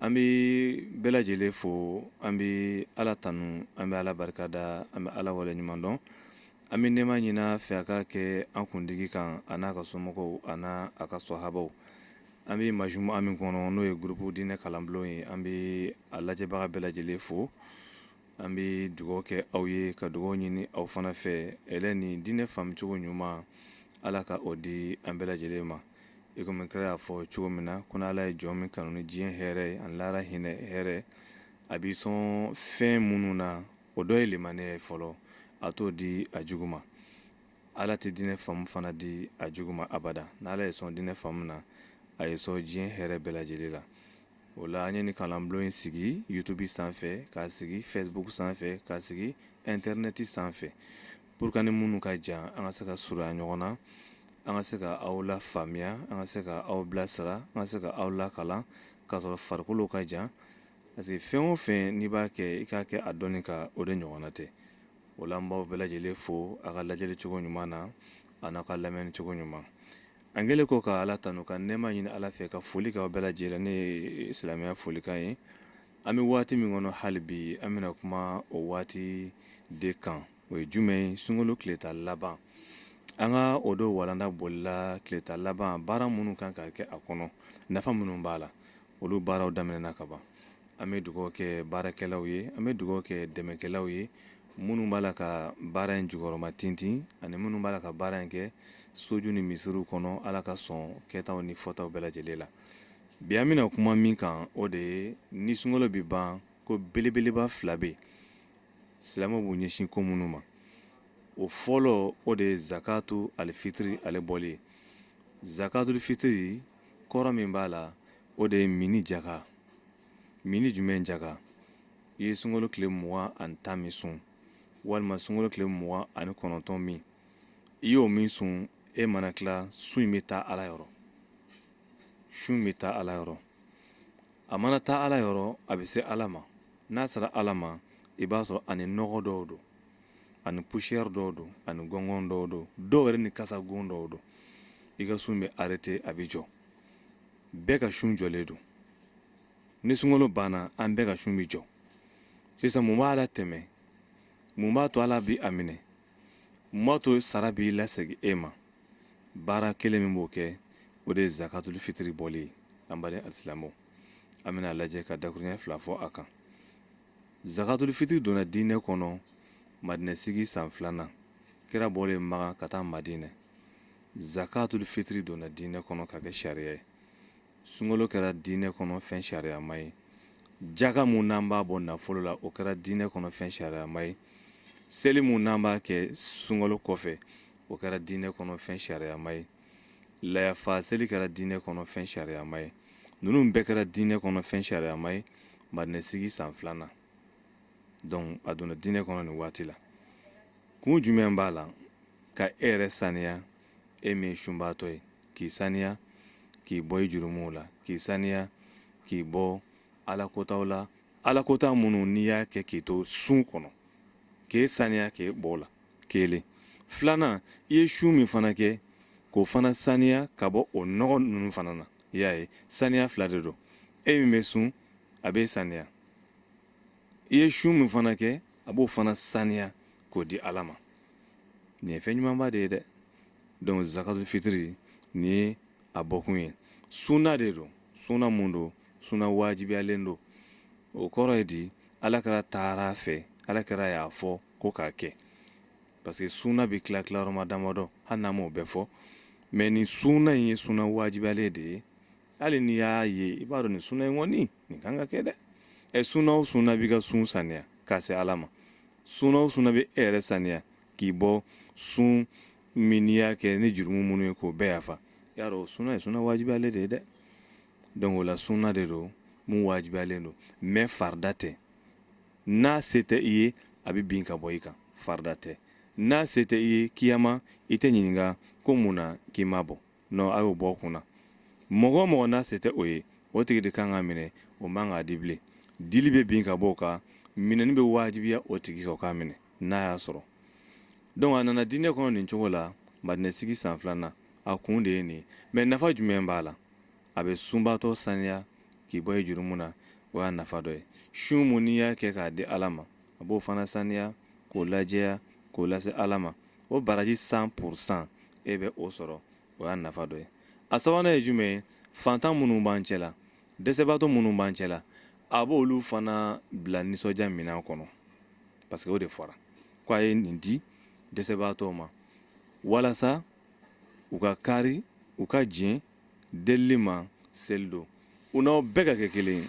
an bɛ bɛɛ lajɛlen fo an bɛ ala tanu an bɛ ala barika da an bɛ ala wale ɲuman dɔn an bɛ nɛɛma ɲini a fɛ a ka kɛ an kuntigi kan a n'a ka somɔgɔw a n'a ka sɔhabaw an bɛ majumu'a min kɔnɔ n'o ye groupe diinɛ kalanbulon ye an bɛ a lajɛbaga bɛɛ lajɛlen fo an bɛ dugaw kɛ aw ye ka dugaw ɲini aw fana fɛ hɛrɛ ni diinɛ faamucogo ɲuman ala ka o di an bɛɛ lajɛlen ma i komi kira y'a fɔ cogo min na ko n'ala ye jɔn min kanu ni diɲɛ hɛrɛ ani lahara hinɛ hɛrɛ a b'i sɔn fɛn minnu na o dɔ ye limaniya ye fɔlɔ a t'o di a jugu ma ala tɛ diinɛ faamu fana di a jugu ma abada n'ala y'i sɔn diinɛ faamu na a y'i sɔn diɲɛ hɛrɛ bɛɛ lajɛlen la o la an ye nin kalanbulon in sigi youtube sanfɛ k'a sigi facebook sanfɛ k'a sigi intɛrnɛti sanfɛ pour que ni minnu ka jan an ka se ka surunya ɲɔgɔn na an ka se ka aw lafaamuya an ka se ka aw bilasira an ka se ka aw lakalan k'a sɔrɔ farikolo ka jan parce que fɛn o fɛn n'i b'a kɛ i k'a kɛ a dɔnni kan o de ɲɔgɔnna tɛ o la an b'aw bɛɛ lajɛlen fo a ka lajɛli cogo ɲuman na a n'aw ka lamɛnni cogo ɲuman An kɛlen kɔ ka ala tanu ka nɛɛma ɲini ala fɛ ka foli k'aw bɛɛ lajɛlen ni silamɛya folikan ye an bɛ waati min kɔnɔ hali bi an bɛna kuma o waati de kan o ye jumɛn ye sunkalo tile tan laban an ka o don walanda bolila tile tan laban baara minnu kan ka kɛ a kɔnɔ nafa minnu b'a la olu baaraw daminɛna kaban an bɛ dugawu kɛ baarakɛlaw ye an bɛ dugawu kɛ dɛmɛkɛlaw ye minnu b'a la ka baara in jukɔrɔma tintin ani minnu b'a la ka baara in kɛ soju ni misiriw kɔnɔ ala ka sɔn kɛtaw ni fɔtaw bɛɛ lajɛlen la bi an bɛna kuma min kan o de ye ni sunkalo bɛ ban ko belebeleba fila bɛ yen silamɛw b'u ɲɛsin ko minnu ma o fɔlɔ o de ye zakatu alifitiri ale bɔli ye zakatu fitiri kɔrɔ min b'a la o de ye minni jaka minni jumɛn jaka i ye sunkalo tile mugan ani tan min sun walima sunkalo tile mugan ani kɔnɔntɔn min i y'o min sun e mana tila sun in bɛ taa ala yɔrɔ sun in bɛ taa ala yɔrɔ a mana taa ala yɔrɔ a bɛ se ala ma n'a sera ala ma i b'a sɔrɔ ani nɔgɔ dɔw don ani poussière dɔw don ani gɔngɔn dɔw don dɔw yɛrɛ ni kasa gon dɔw don i ka sun bɛ arrêter a bɛ jɔ bɛɛ ka sun jɔlen don ni sunkalo banna an bɛɛ ka sun bɛ jɔ sisan mun b'a latɛmɛ mun b'a to ala b'a minɛ mun b'a to sara b'i lasegin e ma baara kelen min b'o kɛ o de ye zakatul fitiri bɔli ye an baden alisilamɛw an bɛna lajɛ ka dakuruɲɛ fila fɔ a kan zakatul fitiri donna diinɛ kɔnɔ madinɛ sigi san filanan kira bɔlen maka ka taa madinɛ zakatul fitiri donna diinɛ kɔnɔ ka kɛ sariya ye sunkalo kɛra diinɛ kɔnɔ fɛn sariyama ye jaka mun n'an b'a bɔ nafolo la o kɛra diinɛ kɔnɔ fɛn sariyama ye seli mun n'an b'a kɛ sunkalo kɔfɛ o kɛra diinɛ kɔnɔ fɛn sariyama ye layafa seli kɛra diinɛ kɔnɔ fɛn sariyama ye ninnu bɛɛ kɛra diinɛ kɔnɔ fɛn sariyama ye madinɛsigi san filanan donc a donna diinɛ kɔnɔ nin waati la kun jumɛn b'a la ka e yɛrɛ saniya e min ye sunbaatɔ ye k'i saniya k'i bɔ i jurumuw la k'i saniya k'i bɔ ala kotaw la ala kota minnu n'i y'a kɛ k'i to sun kɔnɔ k'e saniya k'e bɔ o la kelen filanan i ye sun min fana kɛ k'o fana saniya ka bɔ o nɔgɔ ninnu fana na i y'a ye saniya fila de don e min bɛ sun a bɛ saniya i ye sun min fana kɛ a b'o fana saniya k'o di ala ma nin ye fɛn ɲumanba de ye dɛ donc zakatul fitiri nin ye a bɔkun ye sunna de don sunna mun don sunna wajibiyalen don o kɔrɔ ye di ala kira taara fɛ ala kira y'a fɔ ko k'a kɛ parce que sunna bɛ tila tilayɔrɔma damadɔ hali n'an m'o bɛɛ fɔ mais nin sunna in ye sunna wajibiyalen de ye hali n'i y'a ye i b'a dɔn nin sunna in kɔni nin kan ka kɛ dɛ ɛ sunna o sunna b'i ka sun saniya k'a se ala ma sunna o sunna bɛ e yɛrɛ saniya k'i bɔ sun min n'i y'a kɛ ni jurumu minnu ye k'o bɛɛ yafa y'a dɔn o sunna ye sunna wajibiyalen de ye dɛ donc o la sunna de don mun wajibiyalen don mais farida tɛ n'a se tɛ i ye a bɛ bin ka bɔ i kan farida tɛ n'a se tɛ i ye kiyama i tɛ ɲininka ko mun na k'i m'a bɔ non a y'o bɔ o kun na mɔgɔ o mɔgɔ n'a se tɛ o ye o tigi de kan k'a minɛ o man k'a di bilen dili bɛ bin ka bɔ o kan minɛni bɛ wajibiya o tigi kan o k'a minɛ n'a y'a sɔrɔ donc a nana diinɛ kɔnɔ nin cogo la madinɛsigi san filanan a kun de ye nin ye mais nafa jumɛn b'a la a bɛ sunbaatɔ saniya k'i bɔ i jurumu na o y'a nafa dɔ ye sun mun n'i y'a kɛ k'a di ala ma a b'o fana saniya k'o lajɛya k'o lase ala ma o baraji cent pour cent e bɛ o sɔrɔ o y'a nafa dɔ ye a sabanan ye jumɛn ye fantan minnu b'an cɛ la dɛsɛbaatɔ minnu b'an cɛ la a b'o olu fana bila nisɔndiya minɛn kɔnɔ parce que o de fɔra ko a ye nin di dɛsɛbaatɔw ma walasa u ka kari u ka jɛn delili ma seli don u n'aw bɛɛ ka kɛ kelen ye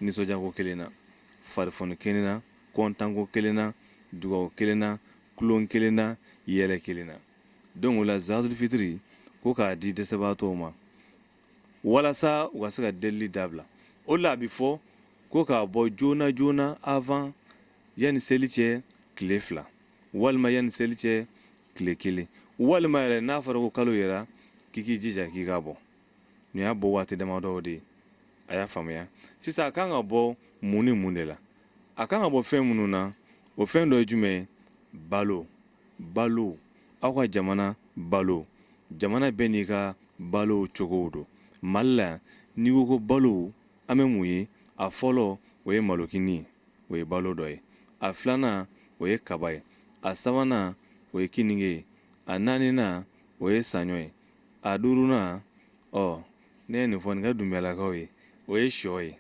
nisɔndiyako kelen na farifoni kelen na kɔntanko kelen na dugawu kelen na tulon kelen na yɛlɛ kelen na donc o la zakatul fitiri ko k'a di dɛsɛbaatɔw ma walasa u ka se ka delili dabila o la a bɛ fɔ ko k'a bɔ joona joona avant yanni seli cɛ tile fila walima yanni seli cɛ tile kelen walima yɛrɛ n'a fɔra ko kalo yɛrɛ k'i k'i jija k'i k'a bɔ nin y'a bɔ waati damadɔ de ye a y'a faamuya sisan a kan ka bɔ mun ni mun de la a kan ka bɔ fɛn minnu na o fɛn dɔ ye jumɛn ye balo balo aw ka jamana balo jamana bɛɛ n'i ka balo cogow don mali la yan n'i ko ko balo An bɛ mun ye? A fɔlɔ, o ye malokini ye. O ye balo dɔ ye. A filanan, o ye kaba ye. A sabanan, o ye kininge ye. A naaninan, o ye saɲɔ ye. A duurunan, ɔ, ne ye nin fɔ, ne ka Dunbiyalakaw ye, o ye shɔ ye.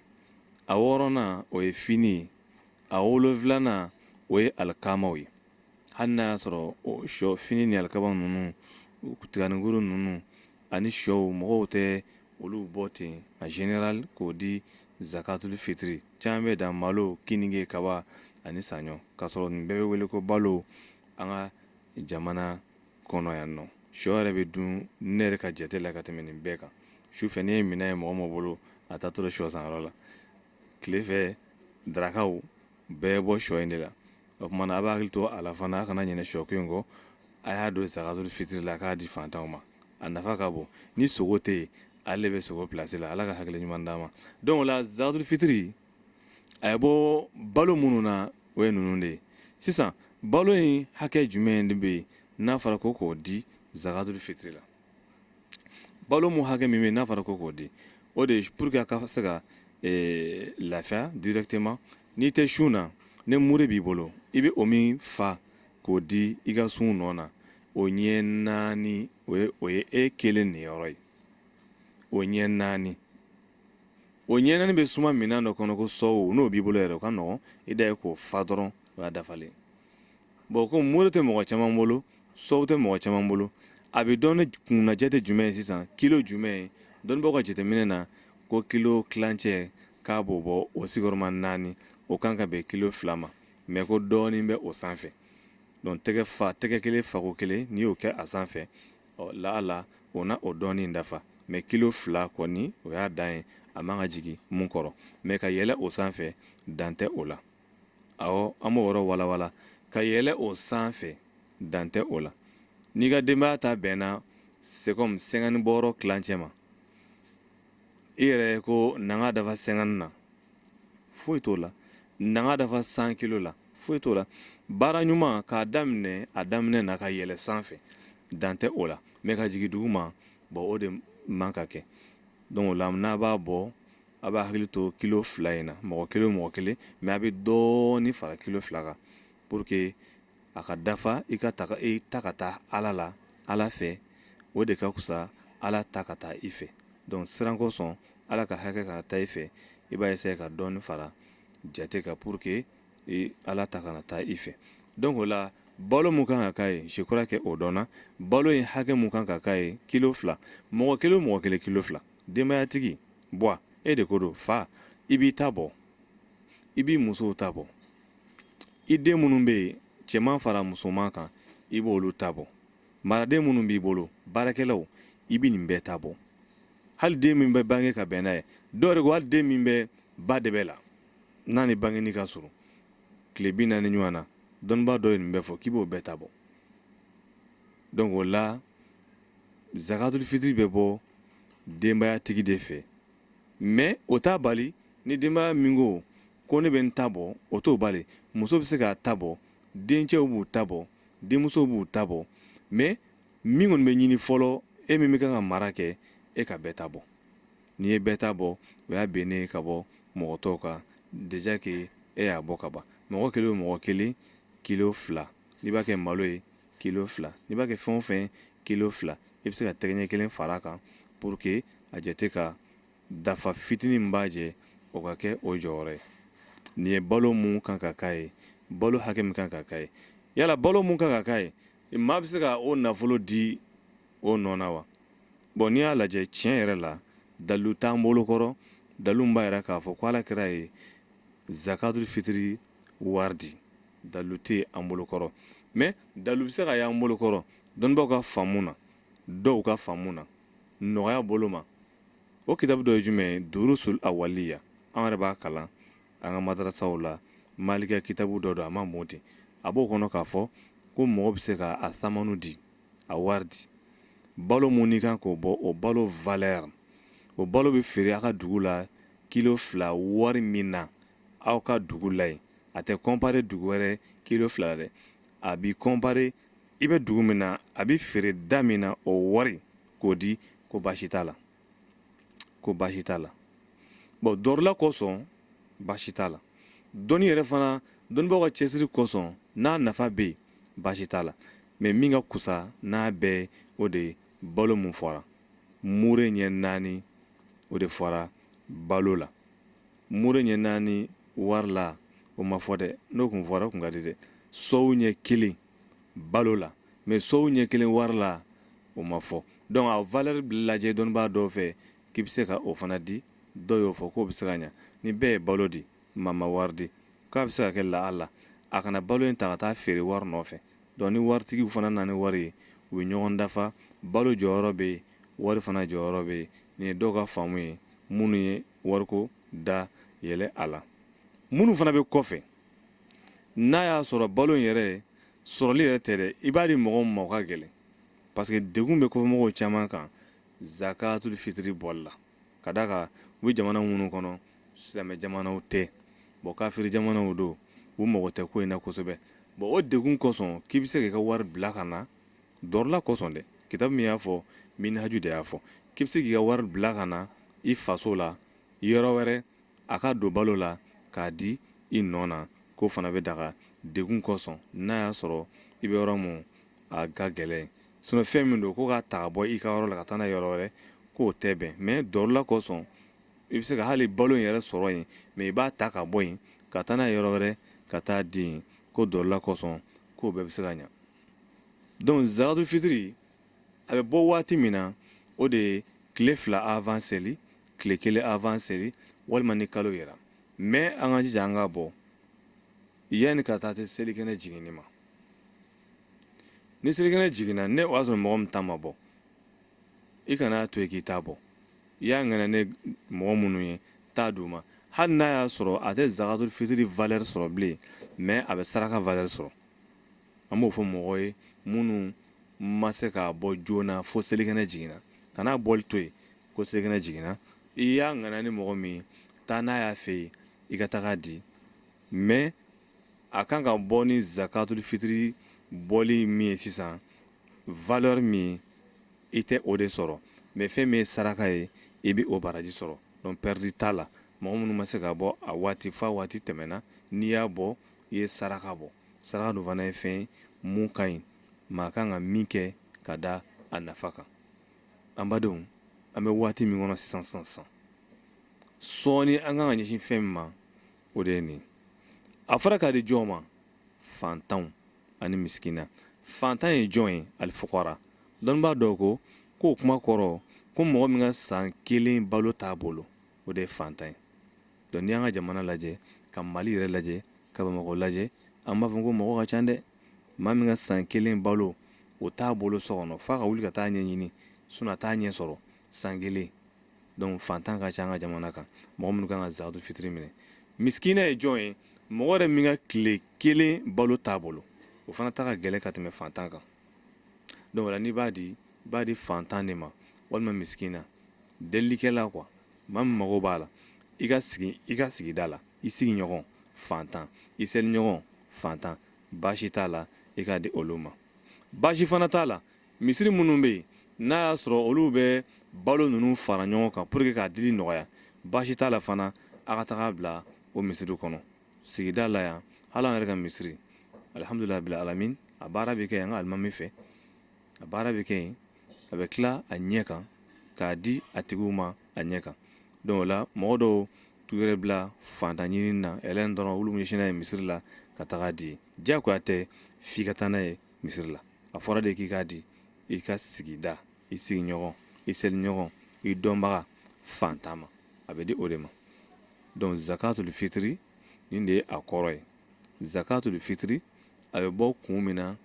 A wɔɔrɔnan, o ye fini ye. A wolonfilanan, o ye alikamaw ye. Hali n'a y'a sɔrɔ o shɔ, fini ni alikama ninnu, tiganikuru ninnu, ani shɔw mɔgɔw tɛ olu bɔ ten en général k'o di zakatul fitiri caman bɛ dan malo kininge kaba ani saɲɔ k'a sɔrɔ nin bɛɛ bɛ wele ko balo an ka jamana kɔnɔ yan nɔ shɔ yɛrɛ bɛ dun ne yɛrɛ ka jate la ka tɛmɛ nin bɛɛ kan sufɛ n'i ye minɛn ye mɔgɔ mɔgɔ bolo a taatɔ shɔ sanyɔrɔ la tilefɛ darakaw bɛɛ bɔ shɔ in de la o tuma na a b'a hakili to a la fana a kana ɲinɛ shɔko in kɔ a y'a don zakatul fitiri la k'a di fantanw ma a nafa ka bon ni sogo tɛ yen ale bɛ sogo plasi la ala ka hakili ɲuman d'an ma donc o la zakatul fitiri a ye bɔ balo minnu na o ye ninnu de ye sisan balo in hakɛ jumɛn de bɛ yen n'a fɔra ko k'o di zakatul fitiri la balo mun hakɛ min bɛ n'a fɔra ko k'o di o de ye pour que a ka se ka eh, lafiya directement n'i tɛ sun na ni mure b'i bolo i bɛ o min fa k'o di i ka sun nɔ na o ɲɛ naani o ye e kelen niyɔrɔ ye o ɲɛ naani o ɲɛ naani bɛ suma minɛn dɔ kɔnɔ ko sɔw n'o b'i bolo yɛrɛ o ka nɔgɔn i dan ye k'o fa dɔrɔn o y'a dafalen bon ko mure tɛ mɔgɔ caman bolo sɔw tɛ mɔgɔ caman bolo a bɛ dɔn ni kunnajɛ tɛ jumɛn ye sisan kilo jumɛn ye dɔnnibagaw ka jateminɛ na ko kilo tilancɛ k'a b'o bɔ o sigiyɔrɔma naani o kan ka bɛn kilo fila ma mais ko dɔɔnin bɛ o sanfɛ donc tɛgɛ kelen fako kelen n'i y'o kɛ a sanfɛ ɔ la la o na o dɔɔnin dafa mais kilo fila kɔni o y'a dan ye a man ka jigin mun kɔrɔ mais ka yɛlɛ o sanfɛ dan tɛ o la an b'o yɔrɔ walawala ka yɛlɛ o sanfɛ dan tɛ o la n'i ka denbaya ta bɛnna c'est comme cinquante bɔrɔ tilancɛ ma e yɛrɛ ko na k'a dafa cinquante na foyi t'o la na k'a dafa cent kilo la foyi t'o la baara ɲuman k'a daminɛ a daminɛ na ka yɛlɛ sanfɛ dan tɛ o la mais ka jigin duguma bon o de man ka kɛ donc o la n'a b'a bɔ a b'a hakili to kilo fila in na mɔgɔ kelen mɔgɔ kelen mais a bɛ dɔɔnin fara kilo fila kan pour que a ka dafa i ka taga e ta ka taa ala la ala fɛ o de ka kusa ala ta ka taa i fɛ donc siran kosɔn ala ka hakɛ kana taa i fɛ i b'a essayer ka dɔɔnin fara jate kan pour que ala ta kana taa i fɛ donc o la balo mun kan ka k'a ye je crois que o dɔnna balo in hakɛ min kan ka k'a ye kilo fila mɔgɔ kelen mɔgɔ kelen kilo fila denbaya tigi bɔ e de ko don fa i b'i ta bɔ i b'i musow ta bɔ i den minnu bɛ yen cɛman fara musoman kan i b'olu ta bɔ maraden minnu b'i bolo baarakɛlaw i bɛ nin bɛɛ ta bɔ hali den min bɛ bange ka bɛn n'a ye dɔw yɛrɛ ko hali den min bɛ ba dɛbɛ la n'a ni bangeni ka surun tile bi naani ɲɔgɔn na dɔnnibaa dɔ ye nin bɛɛ fɔ k'i b'o bɛɛ ta bɔ donc o la zakatuli fitiri bɛ bɔ denbaya tigi de fɛ mais o t'a bali ni denbaya min ko ko ne bɛ n ta bɔ o t'o bali muso bɛ se k'a ta bɔ dencɛw b'u ta bɔ denmusow b'u ta bɔ mais min kɔni bɛ ɲini fɔlɔ e min bɛ kan ka mara kɛ e ka bɛɛ ta bɔ n'i ye bɛɛ ta bɔ o y'a bennen ka bɔ mɔgɔ tɔw kan déjà que e y'a bɔ ka ban mɔgɔ kelen o mɔgɔ kelen kilo fila n'i b'a kɛ malo ye kilo fila n'i b'a kɛ fɛn o fɛn kilo fila i bɛ se ka tɛgɛɲɛ kelen fara a kan pour que a jate ka dafa fitinin min b'a jɛ o ka kɛ o jɔyɔrɔ ye nin ye balo mun kan ka k'a ye balo hakɛ min kan ka k'a ye yala balo mun kan ka k'a ye maa bɛ se ka o nafolo di o nɔ na wa bon n'i y'a lajɛ tiɲɛ yɛrɛ la dalilu t'an bolo kɔrɔ dalilu b'a yira k'a fɔ ko ala kira ye zakatul fitiri wari di dalilu tɛ an bolokɔrɔ mais dalilu bɛ se ka y'an bolokɔrɔ dɔnnibaaw ka faamu na dɔw ka faamu na nɔgɔya bolo ma o kitabu dɔ ye jumɛn ye durusul awaliya an yɛrɛ b'a kalan an ka madarasaw la malikiya kitabu dɔ don a ma mɔ ten a b'o kɔnɔ k'a fɔ ko mɔgɔ bɛ se ka a samanu di a wari di balo mun n'i kan k'o bɔ o balo valeur o balo bɛ feere a ka dugu la kilo fila wari min na aw ka dugu la yen a tɛ comparer dugu wɛrɛ kilo fila la dɛ a bɛ comparer i bɛ dugu min na a bɛ feere da min na o wari k'o di ko baasi t'a la ko baasi t'a la bon darura kosɔn baasi t'a la dɔnni yɛrɛ fana dɔnnibaaw ka cɛsiri kosɔn n'a nafa bɛ yen baasi t'a la mais min ka kusa n'a bɛɛ o de ye balo min fɔra mure ɲɛ naani o de fɔra balo la mure ɲɛ naani wari la o ma fɔ dɛ n'o kun fɔra kun ka di dɛ sɔw ɲɛ kelen balo la mais sɔw ɲɛ kelen wari la o ma fɔ donc a valeur lajɛ dɔnnibaa dɔw fɛ k'i bɛ se ka o fana di dɔw y'o fɔ k'o bɛ se ka ɲa ni bɛɛ ye balo di maa ma wari di k'a bɛ se ka kɛ lahala a ka na balo in ta ka taa feere wari nɔfɛ donc ni waritigiw fana nana ni wari ye u bɛ ɲɔgɔn dafa balo jɔyɔrɔ bɛ yen wari fana jɔyɔrɔ bɛ yen nin ye dɔw ka faamu ye minnu ye wariko da yɛlɛ a la minnu fana bɛ kɔfɛ n'a y'a sɔrɔ balo in yɛrɛ sɔrɔli yɛrɛ tɛ dɛ i b'a di mɔgɔ ma o ka gɛlɛn parce que degun bɛ kɔfɛmɔgɔw caman kan zakatul fitiri bɔli la ka d'a kan u bɛ jamana minnu kɔnɔ silamɛ jamanaw tɛ bon kafiri jamanaw don u mago tɛ ko in na kosɛbɛ bon o degun kosɔn k'i bɛ se k'i ka wari bila ka na dɔrɔla kosɔn dɛ kitabu min y'a fɔ minhaju de y'a fɔ k'i bɛ se k'i ka wari bila ka na i faso la yɔrɔ wɛrɛ a ka don balo la k'a di i nɔ na k'o fana bɛ daga degun kosɔn n'a y'a sɔrɔ i bɛ yɔrɔ min a ka gɛlɛn Sinon fɛn min don ko k'a ta ka bɔ i ka yɔrɔ la ka taa n'a ye yɔrɔ wɛrɛ k'o tɛ bɛn mais dɔrɔla kosɔn i bɛ se ka hali balo in yɛrɛ sɔrɔ yen mais i b'a ta ka bɔ yen ka taa n'a ye yɔrɔ wɛrɛ ka taa di yen ko dɔrɔla kosɔn k'o bɛɛ bɛ se ka ɲa donc zakatul fitiri a bɛ bɔ waati min na o de ye tile fila avant seli tile kelen avant seli walima ni kalo yera mais an ka jija an k'a bɔ yanni ka taa se selikɛnɛ jiginni ma ni selikɛnɛ jiginna ni o y'a sɔrɔ mɔgɔ min ta ma bɔ i kana to yen k'i t'a bɔ i y'a ŋaniya mɔgɔ minnu ye t'a d'u ma hali n'a y'a sɔrɔ a tɛ zakatul fitiri valeur sɔrɔ bilen mais a bɛ saraka valeur sɔrɔ an b'o fɔ mɔgɔ ye minnu ma se k'a bɔ joona fo selikɛnɛ jiginna kana bɔli to yen ko selikɛnɛ jiginna i y'a ŋaniya mɔgɔ min ye taa n'a y'a fɛ yen i ka taga di mais a kan ka bɔ ni zakatul fitiri bɔli min ye sisan valeur min i tɛ o de sɔrɔ mais fɛn min ye saraka ye i bɛ o baraji sɔrɔ donc perte t'a la mɔgɔ minnu ma se k'a bɔ a waati f'a waati tɛmɛna n'i y'a bɔ i ye saraka bɔ saraka dun fana ye fɛn ye mun ka ɲi maa kan ka min kɛ ka da a nafa kan an badenw an bɛ waati min kɔnɔ sisan sisan sisan sɔɔni an kan ka ɲɛsin fɛn min ma o de ye nin a fɔra k'a di jɔn ma fantanw ani misikina fantan ye jɔn ye alifukara dɔnnibaa dɔw ko k'o kuma kɔrɔ ko mɔgɔ min ka san kelen balo t'a bolo o de ye fantan ye donc n'i y'an ka jamana lajɛ ka mali yɛrɛ lajɛ ka bamakɔ lajɛ an b'a fɔ ko mɔgɔ ka ca dɛ maa min ka san kelen balo o t'a bolo so kɔnɔ f'a ka wuli ka taa ɲɛɲini sinon a t'a ɲɛ sɔrɔ san kelen donc fantan ka ca an ka jamana kan mɔgɔ minnu kan ka zakatul fitiri minɛ misikina ye jɔn ye mɔgɔ yɛrɛ min ka tile kelen balo t'a bolo o fana ta ka gɛlɛn ka tɛmɛ fantan kan donc o la n'i b'a di i b'a di fantan de ma walima misikina delilikɛla quoi maa min mago b'a la i ka sigi i ka sigida la i sigiɲɔgɔn fantan i seliɲɔgɔn fantan baasi t'a la i k'a di olu ma baasi fana t'a la misiri minnu bɛ yen n'a y'a sɔrɔ olu bɛ balo ninnu fara ɲɔgɔn kan pour que k'a dili nɔgɔya baasi t'a la fana a ka taga bila o misiri kɔnɔ sigida la yan hali an yɛrɛ ka misiri alihamdulilahi rabil alamin a baara bɛ kɛ yan an ka alimami fɛ a baara bɛ kɛ yen a bɛ tila a ɲɛ kan k'a di a tigiw ma a ɲɛ kan donc o la mɔgɔ dɔw t'u yɛrɛ bila fantan ɲinini na ɛlɛn dɔrɔn olu ɲɛsin n'a ye misiri la ka taga di diyagoya tɛ f'i ka taa n'a ye misiri la a fɔra de k'i k'a di i ka sigida i sigiɲɔgɔn i seliɲɔgɔn i dɔnbaga fantan ma a bɛ di o de ma donc zakatul fitiri nin de ye a kɔrɔ ye zakatul fitiri a bɛ bɔ kun min na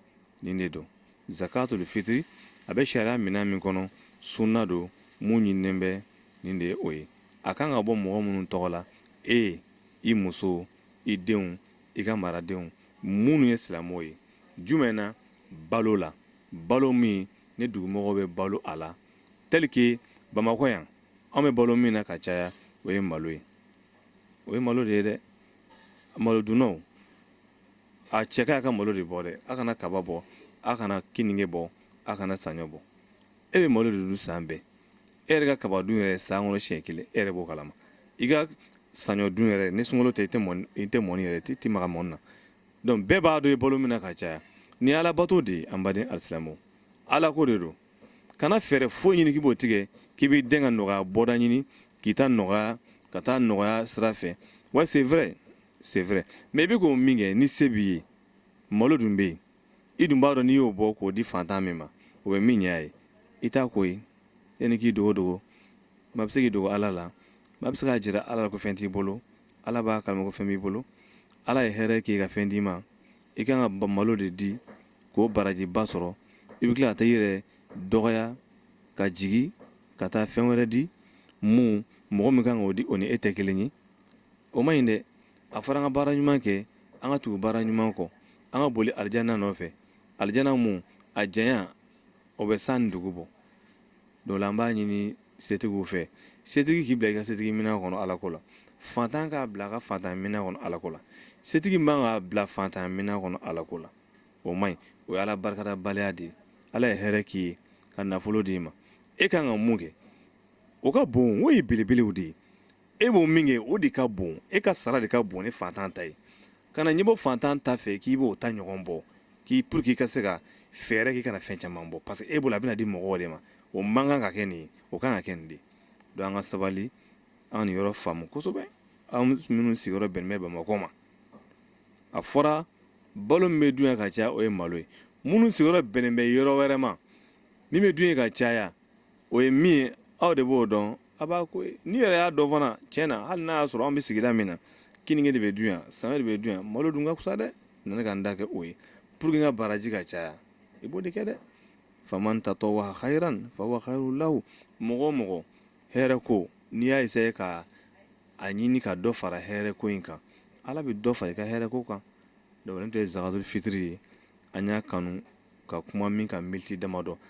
nin de don zakatul fitiri a bɛ sariya minɛn min kɔnɔ sunna don mun ɲininen bɛ nin de ye o ye a kan ka bɔ mɔgɔ minnu tɔgɔ la e i muso i denw i ka maradenw minnu ye silamɛw ye jumɛn na balo la balo min ni dugumɔgɔw bɛ balo a la tel que bamakɔ yan an bɛ balo min na ka caya o ye malo ye o ye malo de ye dɛ malo dunnaw a cɛ ka ɲi a ka malo de bɔ dɛ a kana kaba bɔ a kana kininge bɔ a kana saɲɔ bɔ e bɛ malo de dun san bɛɛ e yɛrɛ ka kaba dun yɛrɛ san kɔnɔ siɲɛ kelen e yɛrɛ b'o kalama i ka saɲɔ dun yɛrɛ ni sunkalo tɛ i tɛ mɔni i tɛ mɔni yɛrɛ i tɛ maga mɔni na donc bɛɛ b'a dɔn i balo min na ka caya nin ye ala bato de ye an baden alisilamɛw ala ko de don kana fɛɛrɛ foyi ɲini k'i b'o tigɛ k'i b'i den ka nɔgɔya bɔda ɲini k'i ta nɔgɔya ka taa nɔgɔya sira fɛ wa c'est vrai c'est vrai mais i bɛ ko min kɛ ni se b'i ye malo dun bɛ yen i dun b'a dɔn n'i y'o bɔ k'o di fantan min ma o bɛ min ɲɛ a ye i t'a ko ye yanni k'i dogo dogo maa bɛ se k'i dogo ala la maa bɛ se k'a jira ala la ko fɛn t'i bolo ala b'a kalama ko fɛn b'i bolo ala ye hɛrɛ k'i ka fɛn d'i ma i kan ka malo de di k'o barajiba sɔrɔ i bɛ tila ka taa i yɛrɛ dɔgɔya ka jigin ka taa fɛn wɛrɛ di mun mɔgɔ min kan k'o di o ni e tɛ kelen ye o ma ɲi dɛ a fɔra an ka baara ɲuman kɛ an ka tugu baara ɲuman kɔ an ka boli alijana nɔfɛ alijana mun a janya o bɛ san ni dugu bɔ donc la an b'a ɲini setigiw fɛ setigi k'i bila i ka setigi minɛn kɔnɔ ala ko la fantan k'a bila a ka fantan minɛn kɔnɔ ala ko la setigi man k'a bila fantan minɛn kɔnɔ ala ko la o ma ɲi o ye ala barikadabaliya de ye ala ye hɛrɛ k'i ye ka nafolo d'i ma e kan ka mun kɛ o ka bon o ye belebelew de ye e b'o min kɛ o de ka bon e ka sara de ka bon ni fantan ta ye kana ɲɛbɔ fantan ta fɛ k'i b'o ta ɲɔgɔn bɔ k'i pour que i ka se ka fɛɛrɛ k'i kana fɛn caman bɔ parce que e bolo a bɛna di mɔgɔw de ma o man kan ka kɛ nin ye o kan ka kɛ nin de donc an ka sabali an nin yɔrɔ faamu kosɛbɛ an minnu sigiyɔrɔ bɛnnen bɛ bamakɔ ma a fɔra balo min bɛ dun yan ka caya o ye malo ye minnu sigiyɔrɔ bɛnnen bɛ yɔrɔ wɛrɛ ma min bɛ dun yen ka caya o ye min ye aw de b'o dɔn a b'a ko n'i yɛrɛ y'a dɔn fana tiɲɛ na hali n'a y'a sɔrɔ an bɛ sigida min na keninge de bɛ dun yan saɲɔ de bɛ dun yan malo dun ka fisa dɛ na ka n ta kɛ o ye pour que n ka baraji ka caya i b'o de kɛ dɛ faman tatawwaha khairan fahuwa khairun lahu mɔgɔ o mɔgɔ hɛrɛ ko n'i y'a essayer ka a ɲini ka dɔ fara hɛrɛ ko in kan ala bɛ dɔ fara i ka hɛrɛ ko kan donc nin tun ye zakatul fitiri ye an y'a kanu ka kuma min kan miniti damadɔ